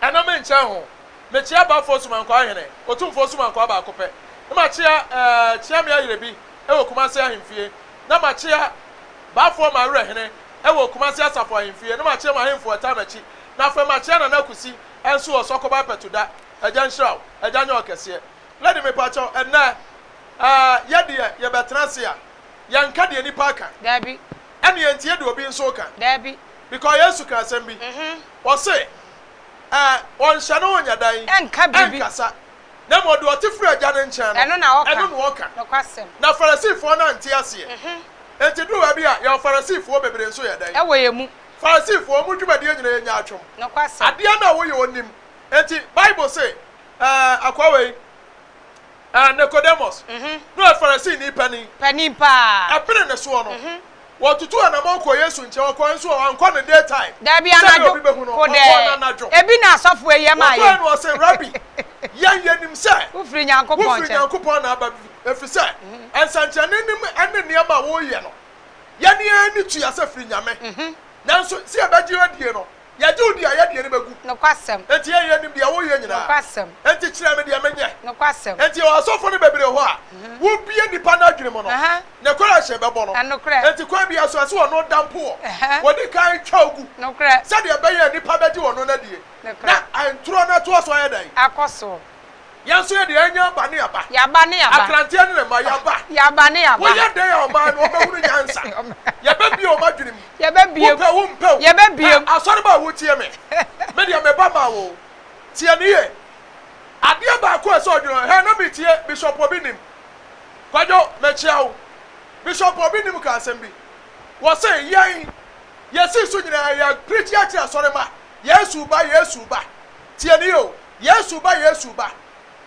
Ɛno me nkyɛn ho. Mekyea Bafoɔ Sumankwaa Hene, Otumfoɔ Sumankwaa baako pɛ. Na makyea ɛɛ kyea me ayerɛbi wɔ Kumase Ahemfie. Na makyea Bafoɔ Mawerɛ Hene wɔ Kumase Asafo Ahemfie. Na makyea mo Ahemfo ɛtaa m'akyi. Na afei makyea Nana Akusi nso wɔ Sɔkɔba Apɛtuda. Agya nhyira wo. Agya nyɛ ɔkɛseɛ. Lady me pakyɛw ɛnnɛ ɛɛ yɛ deɛ yɛbɛtena ase a yɛn nka deɛ nipa aka. Dabi. Ɛneɛ nti yɛ deɛ obi nso ka. Dabi. Because Yesu ka asɛm bi. Ɔse, Ɛ, ɔnhyɛ ne ho nyɛ dɛn? Ɛnka biribi. Ɛnkasa, na mmom deɛ ɔte firi Agya no nkyɛn no, Ɛno na ɔka. ɛno na ɔka. Nokwasɛm. Na Farisifoɔ no ante aseɛ. Enti duru baabi a, yɛwɔ Farisifoɔ bebree nso yɛ dɛn? Ɛwɔ yɛn mu. Farisifoɔ, wɔn dwumadie nyina yɛ nyaatwom. Nokwasɛm. Adeɛ no a wɔyɛ wɔnnim. Enti Bible se, Ɛ, akoa wei, Ɛ, Nicodemus, no ɛ Farisini panin. Panin paa. Ɛbere no soɔ no, wɔtutuu anamɔn kɔɔ Yesu nkyɛn. Ɔkɔɔɛ nso ɛ, wankɔ no day time, Daabi, sɛdeɛ anadwo, obi bɛhu no. kodɛɛ. Ɔkɔɔ no anadwo. Ebi na asɔfoɔ yi ɛmaa yɛn. Wɔkɔɔɛ no ɔse, Rabi, yɛn yɛnim sɛ Wofiri Nyankopɔn nkyɛn. wofiri Nyankopɔn na aba, efiri sɛ nsɛnkyerɛnnenim ɛne nneɛma a woyɛ no, yɛn yɛn ani tua sɛ firi Nyame. Nanso, sɛ yɛbɛgye wo adie no, Yɛgye wo di a, yɛn deɛ ani bɛgu. Nokwasɛm. Enti yɛn yɛn nim deɛ wo yɛ nyinaa. Nokwasɛm. Enti kyerɛ me deɛ me nyɛ. Nokwasɛm. Enti yɛwɔ asɔfo no bebree hɔ a, wo bie nnipa no adwene mu no, ne kwan a hyɛn bɛbɔ no. Nokorɛ. Enti kwan biara so, ɛsɛ ɔno da mpo wɔ. Wɔ di kan twa wo gu. Nokorɛ. Sɛdeɛ ɛbɛyɛ a nnipa bɛgye ɔno no adie. Nokorɛ. Na ntorɔ no atoa so ayɛ dɛn. Akɔ soɔ. Yɛn nso yɛde yɛn aba ne aba. Yɛaba ne yɛaba. Akranteɛ ne ne mma yɛaba. Yɛaba ne yɛaba. Woyɛ dɛn a ɔman no wɔbɛhunu nyansa? Yɛbɛbue wɔn adwenem. Yɛbɛbue. Wopɛ o wompɛ o. Yɛbɛbue. Ɛ asɔreba a wotie me. Me deɛ meba maa wo o. Tie no yie. Adeɛ baako a ɛsɛ sɛ ɔdwene ho, hɛ na metie Bishop Obi Nim. Kwadwo, mekyea wo. Bishop Obi Nim kaa asɛm bi. Wɔse yɛn, yɛsii so nyinaa yɛ preachi akyerɛ asɔremma, Yesu ba, Yesu ba. Tie no yie o. Yesu ba Yesu ba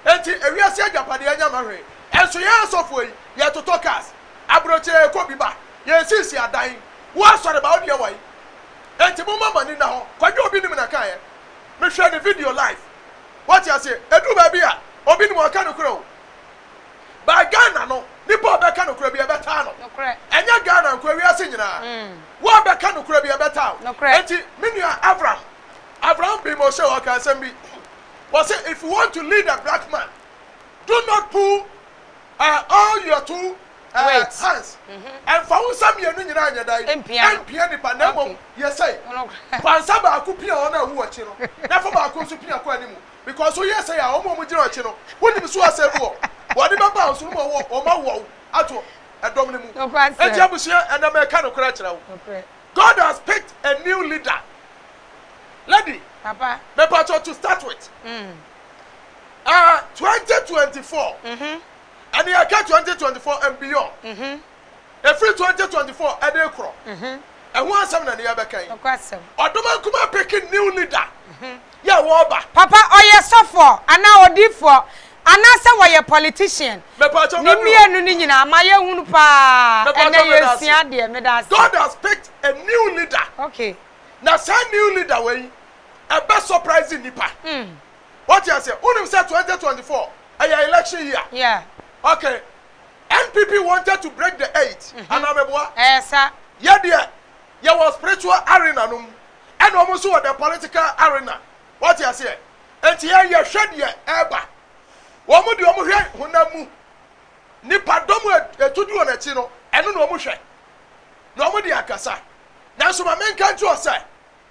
Enti ewiase agyapadeɛ anya ma hwee Ɛnso yɛn asɔfoɔ yi yɛtotɔ cars Abrokyeɛ yɛkɔ bi ba Yɛnsisi adan Wo asɔre ba wo deɛ wai Enti momma mo ani nna hɔ Kwadwo obi nim na kaeɛ Mehwɛ ne video live Wate aseɛ Ɛduru baabi a obi nim ɔka nokorɛ o But Ghana no Nipa a ɔbɛka nokorɛ bi ɛbɛtaa no Ɛnyɛ Ghana nko ewiase nyinaa Wo a bɛka nokorɛ bi ɛbɛtaa wo Enti me nua Avram Abraham bee mo sɛ ɔka asɛm bi. Ɔse if you want to lead a black man, do not pull uh, all your two uh, Wait. hands. Ɛmfa mm-hmm. wo nsa mmienu nyinaa nyɛ dan. Ɛmpia nipa na mmom yɛ sɛ. Fa nsa baako pia wɔn a ɛwu akyi no na fa baako nso pia kɔ anim. Because woyɛ sɛ a wɔn a wɔgyina akyi no, wonim so asɛe wɔ. Wɔde bɛba wo so no ma wɔn awɔw ato ɛdɔm no mu. Nti abusua ɛnam ɛka no koraa kyerɛ wo. God has picked a new leader lady Papa. mepatwɔ to start with ah twenty twenty four ɛne ɛka twenty twenty four and beyond efiri twenty twenty four ɛde korɔ ɛho asɛm na ne yɛbɛka yi Nokwasɛm. ɔdoma nkuma peke new leader yɛ a wɔɔba. Papa ɔyɛ sɔfoɔ anaa odiifoɔ anaasɛ wɔyɛ politician ne mmienu no nyinaa ma yɛ hunu paa ɛnɛ yɛ sua adeɛ meda ase. God has picked a new leader okay na saa new leader wɔ yi ɛbɛ surprise nnipa mm wɔte aseɛ wonim sɛ 2024 ɛyɛ election year yeah okay NPP wanted to break the eight mm -hmm. anaa mɛboa ɛyɛ sa yɛ deɛ yɛ wɔ spiritual arena no mu ɛna ɔmo nso wɔ the political arena wate aseɛ nti yɛn yɛhwɛ deɛ ɛɛba ɔmo deɛ ɔmo hwɛ honam mu nipa dɔm a ɛtu di wɔn akyi no ɛno na ɔmo hwɛ na ɔmo de akasa nanso ma menka nti wɔ sɛ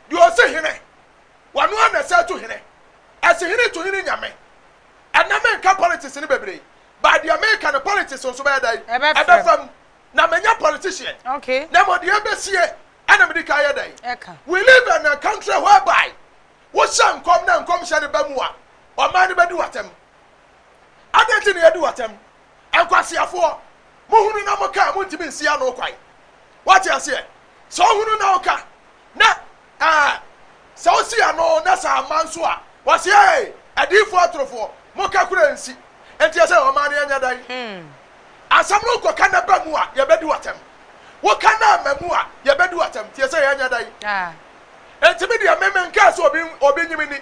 deɛ ɔsi hene wɔno a na ɛsɛ to hene ɛsi hene to hene nyame ɛnna menka politics no bebree baa deɛ meka no politics nso bɛyɛ dɛn Ɛbɛfam. ɛbɛfam na menya politician Okay. na mmɔdeɛ bɛsie Ɛna mede ka yɛ dɛn? We live in a country whereby wohyɛ nkɔm na nkɔmhyɛ no ba mu a, ɔman no bɛdi w'atɛm. Adɛn nti na yɛdi w'atɛm? Nkwaseafoɔ, mohunu na moka a montumi nsi ano kwan. Woate aseɛ? Sɛ wohunu na woka, na ɛɛ, sɛ wosi ano na sɛ amma nso a, wɔse, Ee, adiyifoɔ atorofoɔ, moka koraa nsi. Enti ɛsɛ ɔman no yɛ nyɛ dɛn? Asɛm no kɔ ka na ba mu a, yɛbɛdi wo atɛm. Wo ka na ma mu a, yɛbɛdi wo atɛm. Tie sɛ yɛanya da yi. Enti me deɛ, me menkaa sɛ obi, obi nye me nni.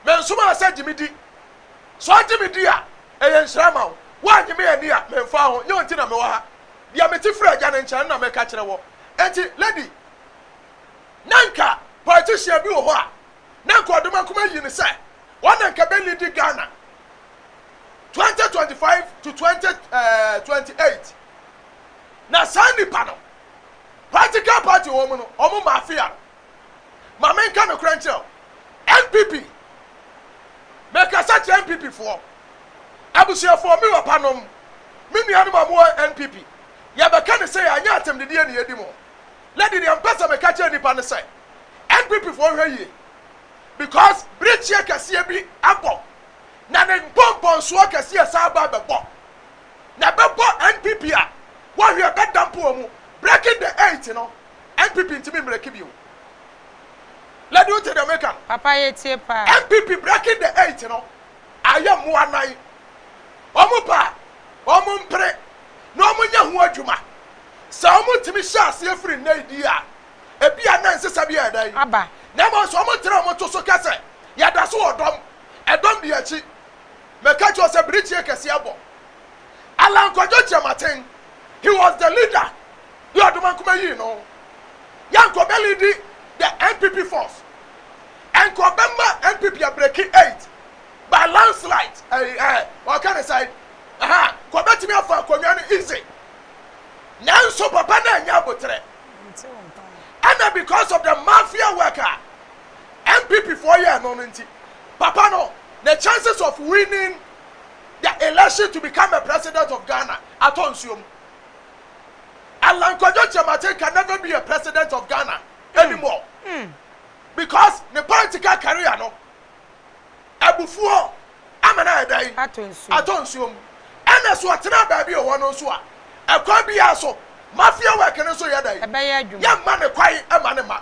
Me nsomaa sɛ gye me di. Sɛ ɔgye me di a, ɛyɛ nhyira ama wo. Woannye me anni a, memfaa ho. Nyɛ wo nti na mewɔ ha. Deɛ mete firi Agya no nkyɛn no na meka kyerɛ wɔ. Enti, lady, na anka politician bi wɔ hɔ a, na anka ɔde m'akoma ayi no sɛ, wɔn na anka bɛlidi Ghana. twenty twenty five to twenty ɛɛ twenty eight na saa nipa no practical party wɔn mu no wɔn mafia no maame nka no kora nkyerɛw npp mekasa kyerɛ npp foɔ abusuafoɔ mi wɔ panom me nuanom a wɔwɔ npp yɛbɛka ne sɛ yɛanyɛ atɛmdideɛ ne yɛdi mu lady deɛ mpɛ sɛ meka kyerɛ nipa no sɛ npp foɔ hwɛ yie because birikyia kɛseɛ bi abɔ na ne nkɔnkɔnsoɔ kɛseɛ san ba bɛbɔ. Na ɛbɛbɔ NPP a, woahwɛ ɛbɛda mpo wɔ mu. Breaking the eight no, NPP ntumi mmerɛki bio. Lady wo te deɛ meka no? Papa yɛtie paa. NPP breaking the eight no, ayɛ mmoa nan. Wɔn pɛ a, wɔn mpere na wɔn nyɛ ho adwuma. Sɛ wɔn tumi hyɛ aseɛ firi nnɛ yi die a, ebia na nsesa bi yɛ dɛn? Aba. Na mmom nso wɔn tena wɔn to so kɛsɛ, yɛda so wɔ dɔm. Ɛdɔm di akyi. Meka kyerɛ wo sɛ birikyie kɛseɛ abɔ. Allan Kwadwo Kyerematen, he was the leader deɛ ɔde Mankoma yii no. Yɛ nka ɔbɛlidi the NPP force. Nka ɔbɛma NPP abreki eight by landslide. Ɛyi ɛ, ɔka ne sɛn? Aha, nka ɔbɛtumi afa akonnwa no easy. Nanso papa no annya aboterɛ. Ɛna because of the mafia work a NPP foɔ yɛɛ no no nti, papa no, ne chances of winning the election to become a president of Ghana atɔ nsuo mu. Allan Kwadwo Kyerematen can never be a president of Ghana anymore because ne political career no, abufuo ama no ayɛ dɛn? Atɔ nsuo mu. Ɛna so ɔtena baabi ɔwɔ no nso a, ɛkwan biara so, mafia work no nso yɛ dɛn? Yɛmma no kwan mma no mma.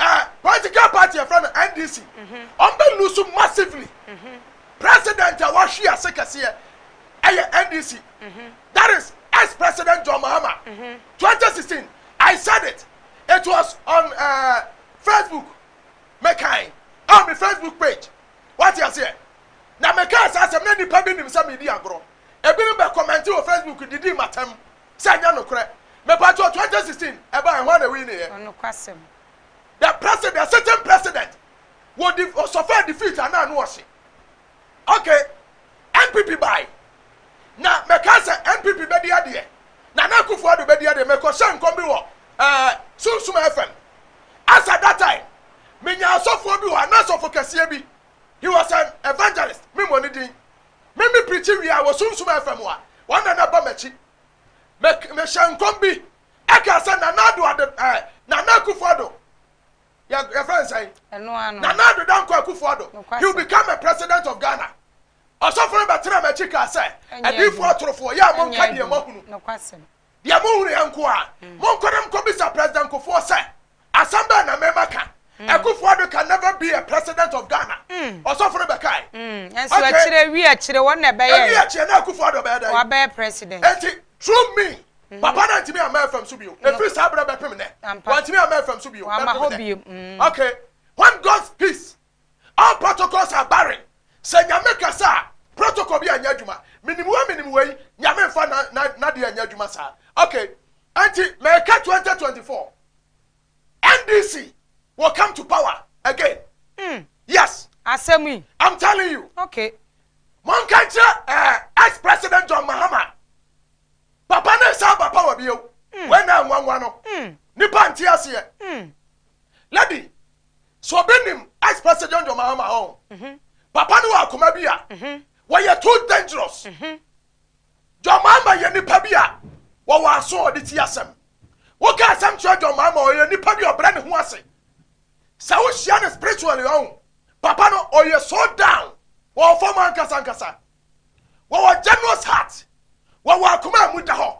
Eh political party yɛfrɛ no NDC ɔmo bɛ lose massively president a wahwe ase kɛseɛ ɛyɛ NDC that is ex president John Mahama 2016 I said it it was on uh, Facebook mekan on my Facebook page wate aseɛ na mekaa saa asɛm na nipa bi nim sɛ medi agorɔ ebinom bɛ kɔmɛnti wɔ Facebook didi matam Sɛ ɛnyɛ nokorɛ. Mepakyɛw twenty sixteen ɛbaeɛ hwan na wineeɛ? Ɔnokwasɛm. The president the sitting president wɔ di ɔsɔfɛ defeat anaa no ɔhye okay npp bae na mɛka sɛ npp bɛdi adeɛ nana akufo ado bɛdi adeɛ mɛkɔhyɛ nkɔm bi wɔ ɛɛ eh, sunsum fm as at that time menya asɔfoɔ bi wɔ ana asɔfo kɛseɛ bi he was an evangelist memmɔ ne din Me me preachi wie a wɔ Sunsum FM a wɔn na na ba m'akyi. Me me hyɛ nkɔm bi ɛka sɛ Nana Addo Ado ɛɛ Nana Akufo Addo yɛ yɛfrɛ no sɛn? Ɛno ano. Nana Addo Dankwa Akufo Addo. Nokwasɛm. He will become a president of Ghana. Ɔsɔfo no bɛtena m'akyi kaa sɛ Ɛnyɛ adiifo adwuma. atorofoɔ yɛ a Ɛnyɛ monka deɛ adwuma. moahunu. Nokwasɛm. Deɛ mohunuiɛ nko ara. Monkɔ na monkɔbisa President Kufuor sɛ, Asɛm bɛn na mema ka? Akufo-Addo can never be a President of Ghana, ɔsɔfo no bɛkae. Nanso akyire, awie akyire, wɔn na ɛbɛyɛeɛ. Awie akyire, na Akufo-Addo bɛyɛ dɛn? Wabɛyɛ President. Enti, through me, Papa no antumi amma ɛfam so bio. Ɛfiri saa berɛ bɛpem nnɛ, wantumi amma ɛfam so bio, bɛpem nnɛ. Okay, when God's peace All protocols are barren Sɛ Nyame kasa a, protocol bi anyɛ adwuma Menim wei menim wei, Nyame mfa na na nadeɛ anyɛ adwuma saa Ok, ɛnti meka 2024 NDC will come to power again mm Yes, asɛm yi, I'm telling you Ok. Monka nkyerɛ eh, ex-president John Mahama Papa no nsan ba power bio mm Wei na anwanwa no mm Nipa nte aseɛ mm Lady, So obi nim ice passage on your mama home? Mm-hmm. Papa no akoma bi a. Mm-hmm. Were you too dangerous? Mm-hmm. John Mahama yɛ nipa bi a wɔwɔ aso ɔde ti asɛm. Woka asɛm kyerɛ John Mahama ɔyɛ nipa bi ɔbrɛ ne ho ase. Sɛ wohyia no spiritually ɔn papa no ɔyɛ so down wɔwɔ fam ankasa ankasa. Wɔwɔ generous heart. Wɔwɔ akoma a mu da hɔ.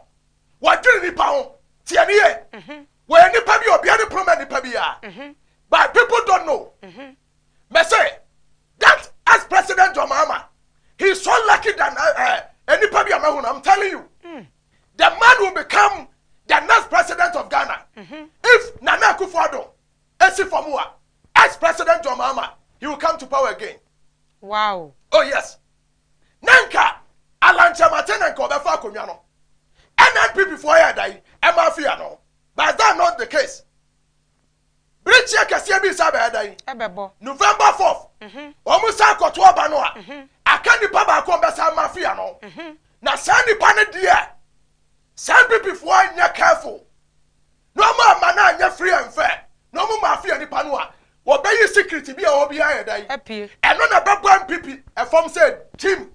Wɔdwene nnipa ho. Tie no yie. Wɔyɛ nnipa bi a obiara ne pono ma nnipa biara. But people don't know. Mese that ex president John Mahama, he is so lucky than uh, uh, nnipa bi a mahu no. I'm telling you, the man will become the next president of Ghana. If Nana Akufo-Addo, Esi Famua, ex president John Mahama, he will come to power again. Wow. Oh yes. na nka Alan Kyerematen na nka ɔbɛfa akonnwa no. Ɛna NPP foɔ yɛɛ dan ɛma afi ano. But that not the case. Birikyeɛ kɛseɛ bi san bɛyɛ dan. Ɛbɛbɔ. November 4th, wɔn mhm. san kɔto aba no a, mhm. aka nipa baako a ɔbɛsan ma afi ano. Mhm. Na saa nipa no deɛ, saa NPP foɔ nyɛ careful. Na wɔn amma no anyɛ firi ɛmfɛ, na wɔn maa fie nipa no a, wɔbɛyi sikiriti bi a ɔwɔ biara ayɛ dɛn? Apue. Ɛno na ɛbɛbɔ mpipi ɛfam sɛ gyim.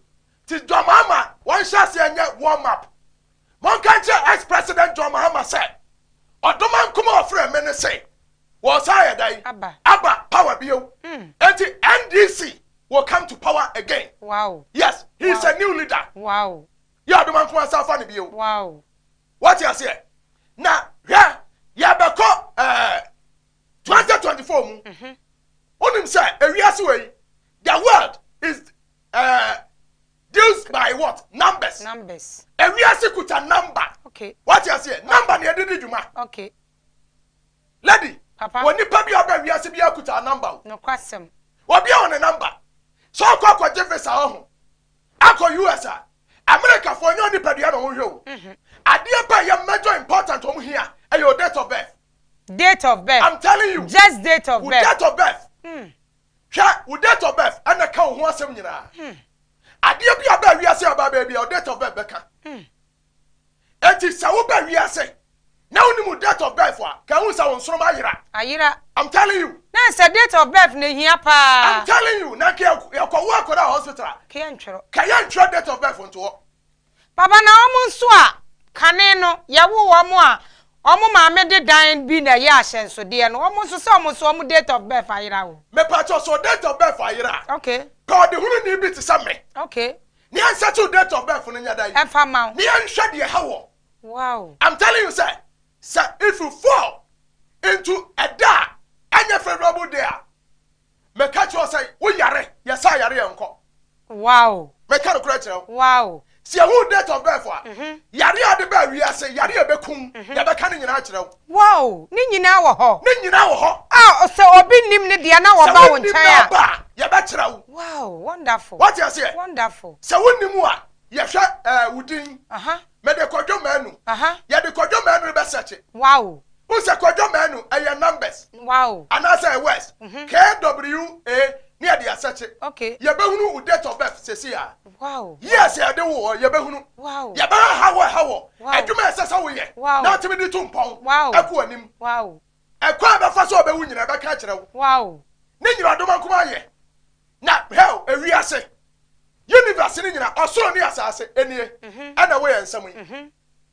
Nti John Mahama wɔnhyɛ aseɛ nyɛ warm up. Monka nkyerɛ ex president John Mahama sɛ, ɔdom anko ma ɔfrɛɛ me no se, wɔresan ayɛ dɛn? Aba. Aba power bio. Enti NDC will come to power again. Wow. Yes, he is a new leader. Wow. Yɛ ɔdom anko ma wɔsan afa no bio. Wow. Wate aseɛ? Na hwɛ, yɛbɛkɔ ɛɛ 2024 mu. Mhm. Wonim sɛ ewiase wɔ yi, the world is ɛɛ deals by what? Numbers. Numbers. Ewiase kuta number. Okay. Wate aseɛ? Number na yɛde di dwuma. Okay. Lady. Papa. Wɔ nipa bi a ɔbɛ wiase bi akuta number o. Nokwasɛm. Obi a wɔ ne number. Sɛ ɔkɔ akɔgye visa ɔho. Akɔ US a, Amerikafo nyɛ onipadua na wɔhwɛ o. Adeɛ paa ɛyɛ major important wɔn hia ɛyɛ o date of birth. Date of birth. I'm telling you. Just date of birth. Wo date of birth. Hwɛ, wo date of birth ɛna ɛka wo ho asɛm nyinaa. Adeɛ bi a ɛbaa wiase a ɛbaa baabi a, wo date of birth bɛka. Enti sɛ woba wiase na wonni mu date of birth a, ka ehu sɛ wo nsoroma ayera. Ayera. I'm telling you. Na ɛsɛ date of birth na ehia paa. I'm telling you, na ka yɛkɔ wo akɔda hospital a. Ka yɛntwerɛ. Ka yɛntwerɛ date of birth nto hɔ. Papa na wɔn nso a kane no yɛwo wɔn a wɔn maame de dan bi na ɛyɛ ahyɛnsodeɛ no wɔn nso sɛ wɔn nso wɔn date of birth ayera o. Mepakyɛw sɛ wo date of birth ayera a. Okay. Pɛ ɔdehununi bi te sɛ me. Okay. Nea nsettle date of birth no nyɛ dɛn? Ɛmfa mma wo. Na yɛnhwɛ deɛ ɛha wɔ. Wow. I'm telling you sɛ, sɛ if you fall into ɛda a ɛnyɛ favorable day a, meka kyerɛ wo sɛ wo yare, yɛsa yare yɛ nkɔ. Wow. Meka nokorɛ kyerɛ wo. Wow. Sɛ yɛhu wo date of birth a, yare a ɛde baa wiase, yare a ɛbɛku wo, yɛbɛka ne nyinaa akyerɛ wo. Wow! Ne nyinaa wɔ hɔ. Ne nyinaa wɔ hɔ. Ah, o sɛ obi nnim ne deɛ na wɔba wo nkyɛn a. Sɛ wonnim n'aba a, yɛbɛkyerɛ wo. Wow, wonderful. Wate aseɛ? Wonderful. Sɛ wonnim wo a, yɛhwɛ ɛɛ wo din. Aha. Mede Kwadwo Manu. Aha. Yɛde Kwadwo Manu no bɛsɛkye. Wow. Wohu sɛ Kwadwo Manu ɛyɛ numbers. Wow. Anaasɛ ɛyɛ words. KWA Ne yɛde asɛkye. Okay. Yɛbɛhunu wo date of birth seesei ara. Wow. Years a yɛde woo hɔ, yɛbɛhunu. Wow. Yɛbɛhwɛ haw a ɛha wɔ. Wow. Adwuma a ɛsɛ sɛ woyɛ. Wow. Na atumi de tu mpɔn. Wow. Ɛkɔ anim. Wow. Ɛkwan a ɛbɛfa so a ɔbɛwu nyinaa, ɛbɛka akyerɛ wo. Wow. Ne nyinaa ɔdoma nko ara yɛ. Na hell, ewiase, universe no nyinaa, ɔsoro ne asaase, nie, ɛna ɛwɔ yɛn nsam yi.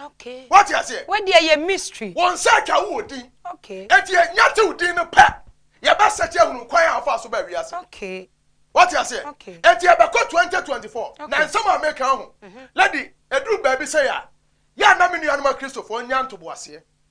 Okay. What you say? What there your mystery? One search a wo din. Okay. And you nyate wo din no pa. Ya ba search a hunu kwan a fa so ba wi ase. Okay. What you say? Okay. And you ba ko 2024. Na nsem a make ho. Lady, edru ba bi say ya. Ya na me nuanuma Christopher nyanto bo ase.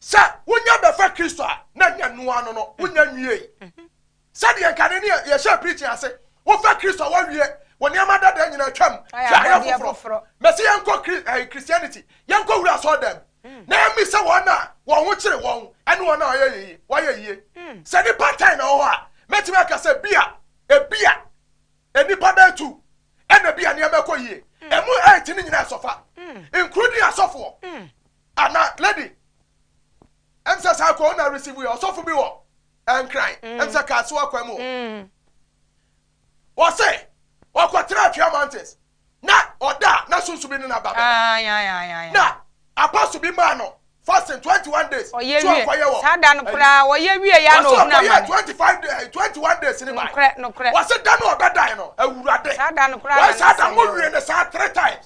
Sɛ wonya bɛfa Kristo a, na nyɛ noa no no, wonya nwiei. Sɛdeɛ nkane ne yɛhyɛ preaching ase, wofa Kristo a woawie wɔ nneɛma dada nyinaa twam hwɛ ayɛ foforɔ. Mɛsɛ yɛnkɔ Christianity, yɛnkɔ wura asɔre dɛm, na yɛmmi sɛ wɔn a wɔn ho kyere wɔn ɛne wɔn a wɔyɛ yie, wɔyɛ yie. Sɛ nipa tan na wɔwɔ a, mɛtumi aka sɛ bia, ebia, nnipa bɛyɛ tu, ɛna bia nneɛma ɛkɔ yie. Ɛmu eight ne nyinaa ɛsɔfa, including asɔfoɔ. Ah na lady ɛm sɛ saa kɔ na receive yɛ ɔsɔfo bi wɔ nkran ɛm sɛ kaa so akwan mu ɔse ɔkɔ tra atwea mountains na ɔda na sunsu bi ne na ba bɛda na apostle bi maa no fasting 21 days so ɔkɔ yɛ wɔ saa da no koraa ɔyɛ wie ya na ɔhuna ma 25 days 21 days ne ba nokorɛ nokorɛ ɔse da no ɔbɛdae no awurade saa da no koraa na saa da mo wie ne saa three times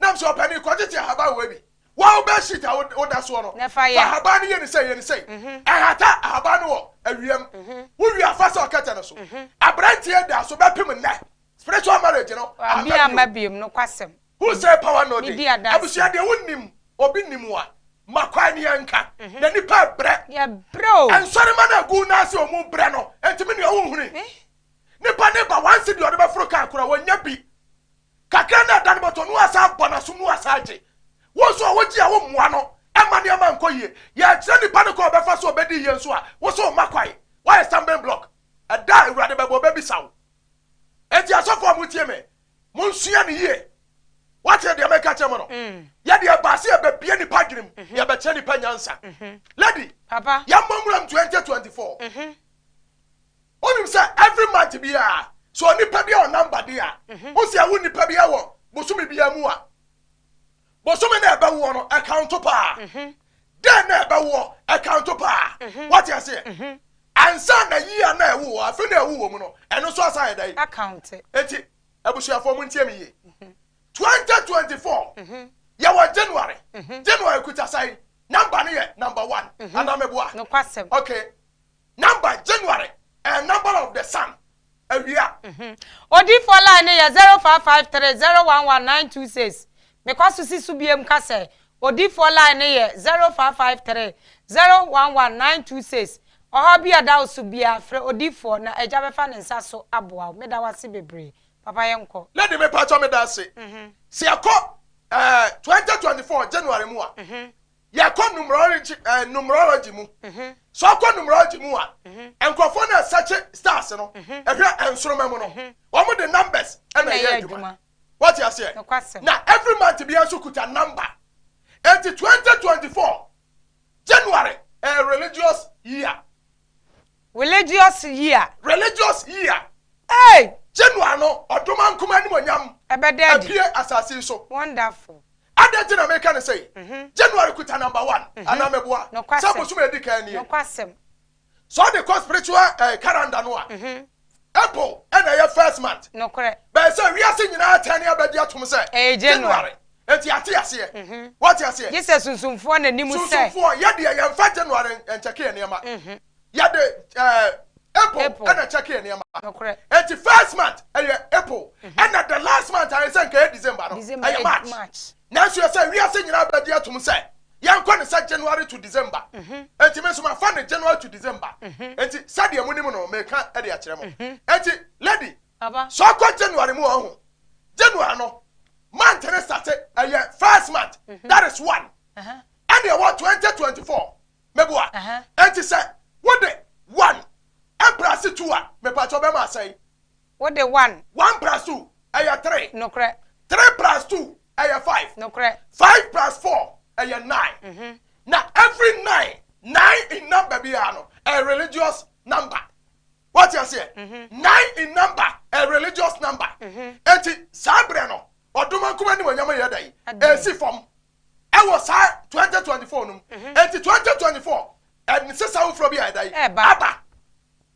Nam sɛ ɔpɛ no, kɔgyegye ahaban wɔ ebi. Wo bed sheet a woda soɔ no, fa ahaban no yɛ no sei, yɛ no sei. Ɛhata ahaban no wɔ awia mu. Wowie a, fa sɔ kɛtɛ no so. Abranteɛ da so bɛpem nnɛ. Spiritual marriage no amma bio. Who say power no dey? Abusua deɛ wonim obi nim a, ma kwan ne yɛnka. Na nipa brɛ. Nsɔrema no a egu nan ase a wɔn brɛ no, enti me nua wonhunui? Nipa ne ba one cedi a ɔde bɛforo car koraa wɔnnya bi. Kakra na ɛda no bɔtɔ no asan abɔ n'asom no asan agye. Wo nso a wogye a wommoa no mma nneɛma nkɔ yie. Yɛrekyerɛ nipa no kwan a ɔbɛfa so a obedi yie nso a, wo nso womma kwan. Woayɛ stumbling block. Ɛda a Awurade bɛba obebisa wo. Enti asɔfo a motie me, monsua no yie. Woate deɛ meka kyerɛ mo no? Yɛ deɛ ɛbaa sɛ yɛbɛbue nipa adwene mu, yɛbɛkyerɛ nipa nyansa. Lady, yɛmmɔ nwura mu twenty twenty four. Wonim sɛ every month biara sɛ onipa bi a ɔnam bade a mhm. wosi awo nipa bi wɔ bosome biara mu a bosome na ɛbɛwoɔ no ɛkanto paa mhm. dɛn na ɛbɛwoɔ ɛkanto paa mhm. wate aseɛ ansa na yia na ɛwo wɔ afe na ɛwo wɔ mu no ɛno nso asan yɛ dɛn akante eti abusuafoɔ mu ntiɛ mi yie twenty twenty four yɛwɔ january january kuta sɛn namba no yɛ namba one anamɛboa okay Number January ɛyɛ number of the sun awia. Mhm. Odiifoɔ line no yɛ zero five five three zero one one nine two six. Mekɔ so si so biem ka sɛ odiifoɔ line no yɛ zero five five three zero one one nine two six. Ɔhaw bi a ɛda wo so biara frɛ odiifoɔ na Agya bɛfa ne nsa so aboa wo. Meda wo ase bebree. Papa yɛnkɔ. Lady me paatwa me da ase. Mhm. Se yɛkɔ eh, 2024 January mu a, Mhm. Yɛkɔ numerology eh, numerology mu. Sɛ ɔkɔ numerology mu a, nkurɔfoɔ no ɛsɛkye stars no, ɛhwɛ nsoroma mu no, wɔn de numbers ɛna ɛyɛ adwuma. Wɔte aseɛ? Na every month biara nso kuta number. Enti 2024 January ɛyɛ religious year. Religious year. Religious year. Hey! January no, ɔdom ankom animuonyam Ɛbɛda adi. apue asase yi so. Wonderful. Adɛn nti na meka no sei? January kuta number one, anaa meboa? Sɛ Nokwasɛm. bosom a edi kan nie. Nokwasɛm. Sɛ ɔde kɔ spiritual eh, calendar no a, April na ɛyɛ first month. Nokorɛ. Bɛyɛ sɛ wiase nyinaa atɛn ne abɛgye atom sɛ. Ɛyɛ January. Enti ate aseɛ. Wate aseɛ? Gye sɛ sunsumfoɔ na nim sɛ. Sunsumfoɔ, yɛ deɛ yɛmfa January nkyɛke yɛn nneɛma. Yɛde April na ɛkyɛke yɛn nneɛma. Nokorɛ. Enti first month yɛ April. Ɛna the last month a yɛsɛ nka ɛyɛ December no, ɛyɛ March. Nanso ɛsɛ wiase nyinaa bɛgye atom sɛ yɛnkɔ no sɛ January to December. Enti me nso mafa no January to December. Enti sɛdeɛ monim no, meka de akyerɛ mo. Enti lady, sɛ ɔkɔ January mu a, ɔho. January no, month no starte, ɛyɛ first month, that is one. Ɛnna ɛwɔ 2024, meboa. Enti sɛ wode one ɛmprɛase two a, mepaakyɛw bɛma asɛe. Wo de one. One plus two, ɛyɛ three. Nokorɛ. Three plus two, ɛyɛ five. Nokorɛ. Five plus four, ɛyɛ nine. Mm-hmm. Na every nine, nine in number biara no, ɛyɛ religious number. Wate aseɛ? Mm-hmm. Nine in number, ɛyɛ religious number. Mm-hmm. Eti saa berɛ no, ɔdoma nkuma ne wɔnyama yɛ dɛ. Esi fam. ɛwɔ saa twenty twenty four no mu mhm. eti twenty twenty four ɛnsesa foforɔ bi a ɛda yi aba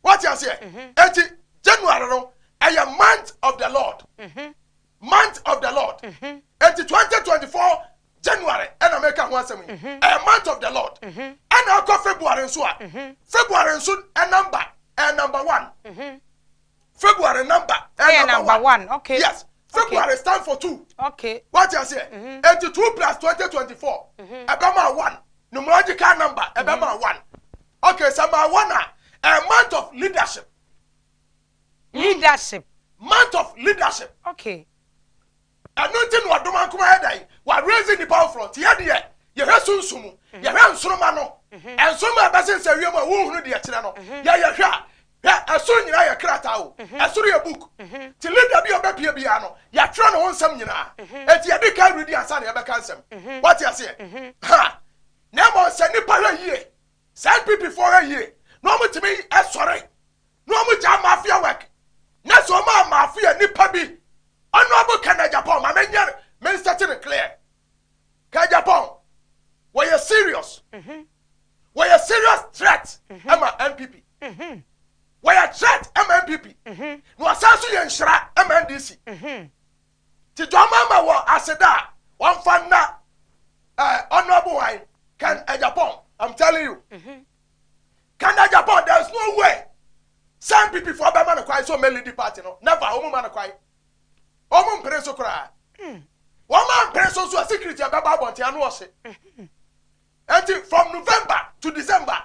wɔte aseɛ mhm. eti january no ɛyɛ month of the lord mhm. month of the lord eti twenty twenty four january ɛna mɛka ho asɛm yi ɛyɛ month of the lord ɛna akɔ february nso a february nso ɛnamba ɛyɛ number one. February number ɛyɛ number one. Okay. Yes. February stand for two. Okay. Wati aseɛ. Mm-hmm. Eti two plus twenty twenty four. Mm-hmm. Ɛbɛ maa one. Numerological number ɛbɛ mm-hmm. maa one. Okay. Sɛ maa one a a month of leadership. Leadership. Month of leadership. Okay. Ɛno nti na ɔdom anko ayɛ dɛn? Wa raise nnipa foforɔ. Nti yɛ deɛ, yɛhwɛ sunsum mu. Mhm. Yɛhwɛ nsoroma no. Mhm. Nsoroma a ɛbɛsensɛ wiem a wonhunu deɛ ɛkyerɛ no. Mhm. Yɛ yɛhwɛ a, hwɛ, ɛsoro nyinaa yɛ krataa o. Ɛsoro yɛ book. Nti leader bi a ɔbɛpie biara no, yɛatwerɛ ne ho nsɛm nyinaa. Nti yɛde kan redi ansa na yɛbɛka nsɛm. Wate aseɛ? Ha! Na mmom sɛ nnipa hwɛ yie, saa NPP foɔ hwɛ yie, na wɔtumi sɔre na wɔn gyaa mafia work na sɛ wɔn a mafia nipa bi honorable kɛnɛ japan ma me nyɛ me nsɛte no clear kɛ japan wɔyɛ serious wɔyɛ serious threat ɛma npp wɔyɛ threat ɛma npp na wɔsan so yɛ nhyira ɛma ndc Ti dɔm ama wɔ aseda a wɔmfa nna eh, honorable wine can Agyapong I'm telling you mm-hmm. can Agyapong there is no way sɛ npp foɔ bɛma no kwan sɛ ɔmɛlidi party no never wɔn ma no kwan wɔn mpere so koraa wɔn ma mpere so nso a security ɛbɛba abɔnten ano ɔhye Enti from November to December,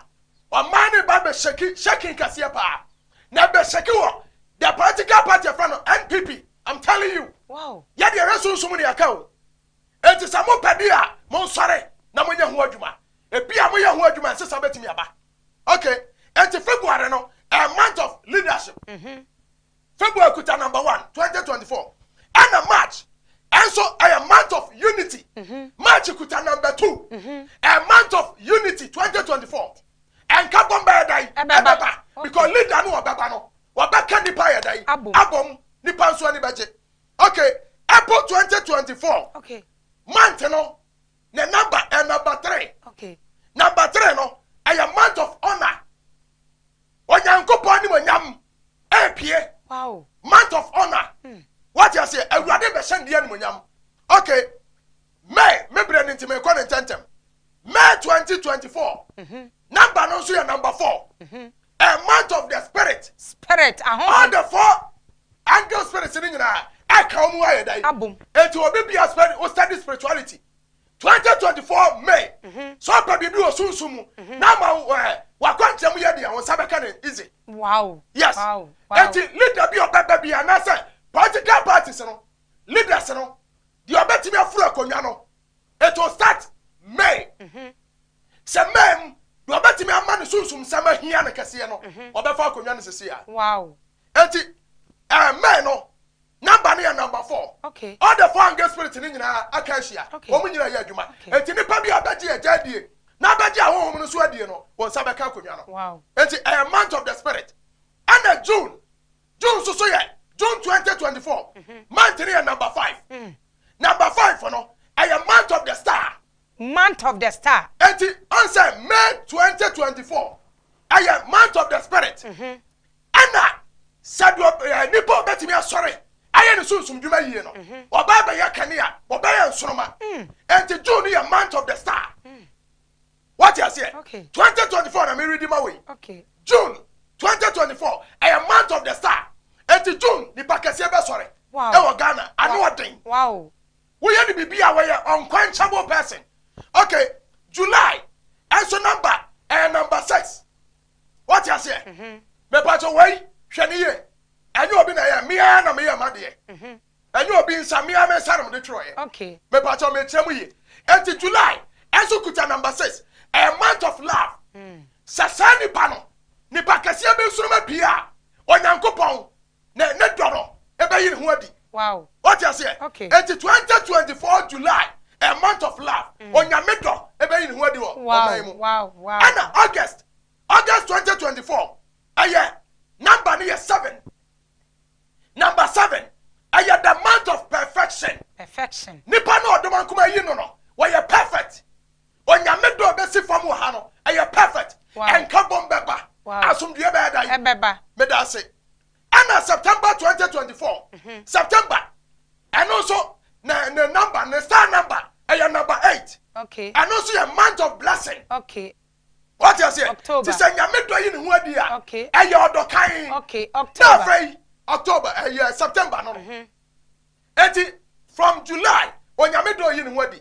ɔmaa ne ba bɛ shake shaking kɛseɛ paa. Na bɛ shake wɔ the political party yɛfrɛ no NPP. I'm telling you. Wow. Yɛ deɛ yɛ sunsum ne yɛka o. Enti sɛ mo pɛ deɛ a, mo nsɔre na mo nyɛ ho adwuma. Ebi a mo yɛ ho adwuma nsesa bɛtumi aba. Okay. Enti February no, a month of leadership. Mm-hmm. February kuta number one twenty twenty four ɛna March ɛnso ɛyɛ month of unity mhm. March kuta number two mhm. a month of unity twenty twenty four ɛnka bɔm bɛyɛ dan ɛbɛba because leader no ɔbɛba no ɔbɛka nipa yɛ dan abɔm nipa nso ani bɛgye okay April twenty twenty four month no ne number ɛ number three number three no ɛyɛ month of honour onyankopɔn ni mo nyam. ɛpue month of honor hmm. wate aseɛ awurade bɛhyɛ ndeɛ animonyam ok may me berɛ no nti mekɔ ne ntɛntɛm may 2024 mhm. number no nso yɛ number four mhm. a month of the spirit spirit all the four angel spirits no nyinaa ɛka wɔn ayɛ dan eti obi bi aspɛn o study spirituality Twenty twenty four May, Sɛ ɔpɛ biribi wɔ sunsum mu na ama w'akwankyerɛ mu yɛ den a, wo nsa bɛka no easy. Wow! Yes. Enti leader bi a ɔbɛba bi anaasɛ political parties no leaders no deɛ ɔbɛtumi aforo akonnwa no, it will start May. Sɛ May mu deɛ ɔbɛtumi ama ne sunsumsɛm ahia no kɛseɛ no, ɔbɛfa akonnwa no sisi a. Wow! Enti, amen no namba no yɛ namba fɔɔ. All the four angel spirits no nyinaa aka ahyia. Wɔn nyinaa reyɛ adwuma. Enti nnipa biara bɛgye Agya adie na abɛgye ahonhom no nso adie no, wɔn nsa bɛka akonnwa no. Enti ɛyɛ month of the spirit. Ɛna June, June nso so yɛ June twenty twenty four. Month no yɛ namba five. Namba five no, ɛyɛ month of the star. Month of the star. Enti, ɔn sɛ May twenty twenty four, ɛyɛ month of the spirit. ɛna sɛdeɛ eh, nipa ɔbɛtumi asɔre ayɛ ne sunsum dwuma yie no mhm. ɔbaa bɛyɛ kanea ɔbɛyɛ nsoroma mm. nti june yɛ month of the star mm. wate aseɛ 2024 na meredi ma wei june 2024 ɛyɛ month of the star nti june nipa kɛseɛ bɛsɔre ɛwɔ ghana ano ɔden woyɛ ne biribi a wɔyɛ unquenchable person okay july ɛnso number ɛyɛ number six Wate aseɛ? Mhm. Mepatɔ wei hwɛ ne yie. Ɛnyɛ obi na ɛyɛ mmea na meyɛ ma deɛ. Mhm. Ɛnyɛ obi nsa mmea me nsa na mede twerɛeɛ. Okay. Mepatɔ mekyerɛ mu yie. Enti July ɛnso kuta number six. Ɛyɛ month of love. Mm. Sɛ saa nipa no nipa kɛseɛ bi nsoroma pii a Onyankopɔn na ne dɔ no bɛyi ne ho adi. Wow. Wote aseɛ? Okay. Enti 2024 July, a month of love, mm. onyame dɔ bɛyi ne ho adi wɔ wow. ɔman mu. Wow. Wow. Ɛna August, August 2024, ɛyɛ number no yɛ seven. Number seven, ɛyɛ the month of perfection. Perfection. Nipa na ɔdɔm ankoma yi no no, wɔyɛ perfect. Onyame dɔ bɛsi fam wɔ ha no ɛyɛ perfect ɛnka bom bɛba asomdwie bɛyɛ dan ɛbɛba meda ase ɛna September 2024 mhm. September ɛno nso ne ne number ne star number ɛyɛ number eight okay ɛno nso yɛ month of blessing okay wɔte aseɛ ti sɛ nyame dɔ yi ne ho adi a ɛyɛ ɔdɔ kan okay October na afei October ɛyɛ September no no mhm. eti from July onyame dɔ yi ne ho adi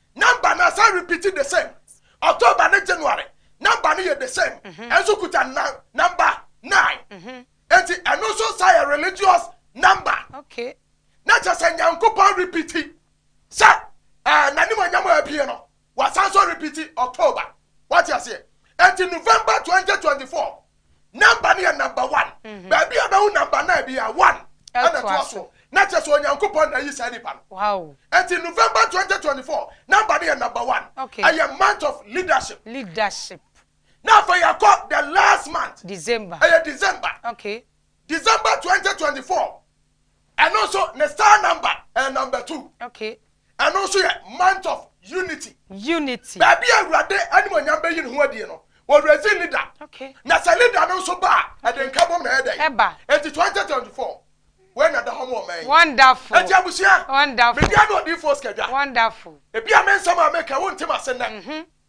Number na san repeat the same October ne January number no yɛ the same mhm. ɛnso kuta nan number nine mhm. eti ɛno nso saa yɛ religious number okay. na kyɛ sɛ nyankopɔn repeat sɛ ɛɛ eh, n'anim anyam a abie no wasan so repeat October wate aseɛ eti November twenty twenty four namba no yɛ namba one mm-hmm. baabi a bɛhu namba nine bi a one ɛna toa so na kyerɛ sɛ onyankopɔn na ayi saa nipa no ɛti november 2024 namba no yɛ namba one ɛyɛ month of leadership leadership na afei yɛkɔ the last month december ɛyɛ december okay December twenty twenty four ɛno nso ne star number ɛyɛ number two okay ɛno nso yɛ month of unity unity baabi a awurade animonyam bɛyi ne ho adie no wɔrezi ne da okay na sɛ ne da no nso ba a ɛde nka bom na ɛyɛ dɛ ɛba eti twenty twenty four wɔn na da hɔ mo ɔman yi wonderful eti abusua wonderful media no ɔdiifoɔ sikadwa wonderful ebi a me nsɛm a meka wonte ma se nnɛ. Mhm.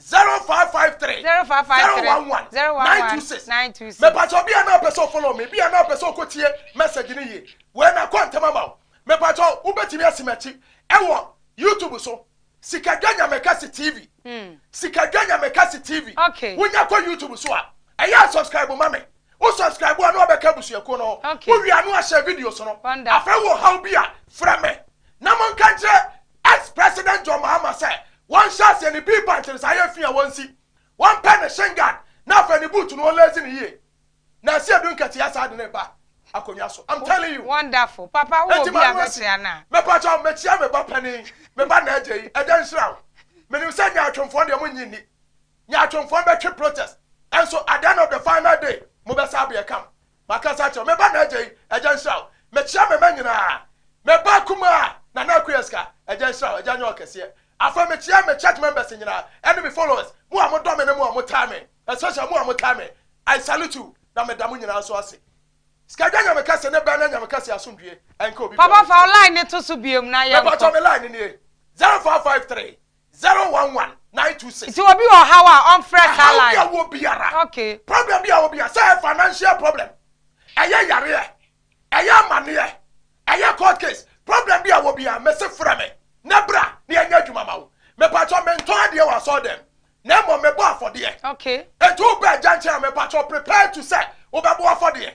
Zero five five three Zero five five zero three one one zero one nine two one six nine two six. Mepa kyɛw bia na ɔpɛ sɛ ɔfollow me bia na ɔpɛ sɛ ɔkɔ tie message no yie wei na kɔ ntɛm ama wo mepa kyɛw wobɛtumi asi m'akyi ɛwɔ YouTube so Sikadwa Nyamekɛse TV Sikadwa Nyamekɛse TV Okay. wonya kɔ YouTube so a ɛyɛ a subscribe ma me wo subscribe a na wabɛka abusuakuo no ho Okay. wowie a na wahyɛ videos no Wonderful. afei wɔ ɔhaw bi a frɛ me na monka nkyerɛ As President John Mahama sɛ wɔnhyɛ aseɛ ne bee punch no saa yɛ fii a wɔnsi, wɔmpɛ ne shin guard na afei ne boot no wɔnlace no yie. Nansi adu nkɛteɛ saa de no reba akonnwa so I'm telling you. Wonderful papa wo wɔ bi a bɛkyerɛ no a. Mepakyɛw mekyia me ba panin, me ba Naaje yi, Agya nhyira wo. Menim sɛ nyaatwomfoɔ deɛ monnye nni. Nyaatwomfoɔ bɛtwe protest, nso at the end of the final day mobɛsa abea come. Makasa akyerɛ wo, me ba Naaja yi, Agya nhyira wo. Mekyia me mma nyinaa. Me ba kumaa, Nana Akuyeska, Agya nhyira wo, Agya nyɛ wo kɛseɛ. Afei mekyia me church members nyinaa ɛne me followers, mo a modɔ me ne mo a motaa me, especially mo a motaa me, I salute you, na meda mo nyinaa nso ase. Sikadwa Nyame kɛse ne bɛn na Nyame kɛse asomdwie ɛnka obi biara Papa fa wo line no to so biom na yɛnkɔ. Mepatɔ me line no nie, zero four five three Zero one one nine two six. Nti obi wɔ ɔhaw a ɔnfrɛ saa line. Ɛhaw bi a wɔ biara. Okay. Problem bi a wɔ biara sɛ ɛyɛ financial problem, ɛyɛ yareɛ, ɛyɛ amaneɛ, ɛyɛ court case, problem bi a wɔ biara mese frɛ me na bra na yɛnyɛ adwuma ma wo. Mepakyɛ mentɔn adeɛ wɔ asɔre dɛm na mmom mebɔ afɔdeɛ. Okay. Nti wobɛ agya nkyɛn a mepakyɛ prepare to sɛ wobɛbɔ afɔdeɛ.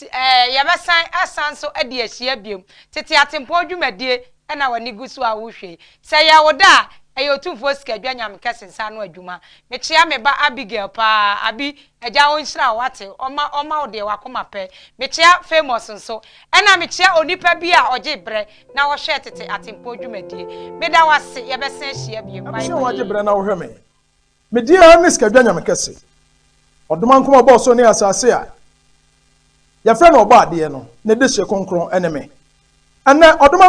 Yɛbɛsan asan nso adi ahyia biom. Tete atempɔn dwumadie na w'ani gu so a wohwɛ yi. Sɛ ɛyɛ wo dɛ a, ɛyɛ Otumfoɔ Sikadwa Nyamekɛse nsa ano adwuma. Mekyea me ba Abigail paa. Abi, Agya ɔnhyira wo, wate? Ɔmma ɔmma wo deɛ w'akoma pɛ. Mekyea Famous nso. Ɛna mekyea onipa bi a ɔgye brɛ na ɔhwɛ tete atempɔn dwumadie. Meda wo ase, yɛbɛsan ahyia biom. Bye bye. Ɛbɛhyɛ wo agye brɛ na wohwɛ me. Me deɛ ara ne Sikadwa Nyame kɛse, Ɔdomankoma a ɔbɔɔ soro ne asase a yɛfrɛ no Ɔbɔadeɛ no, ne dehyeɛ kronkron ne me. Ɛnnɛ, Ɔdomankoma.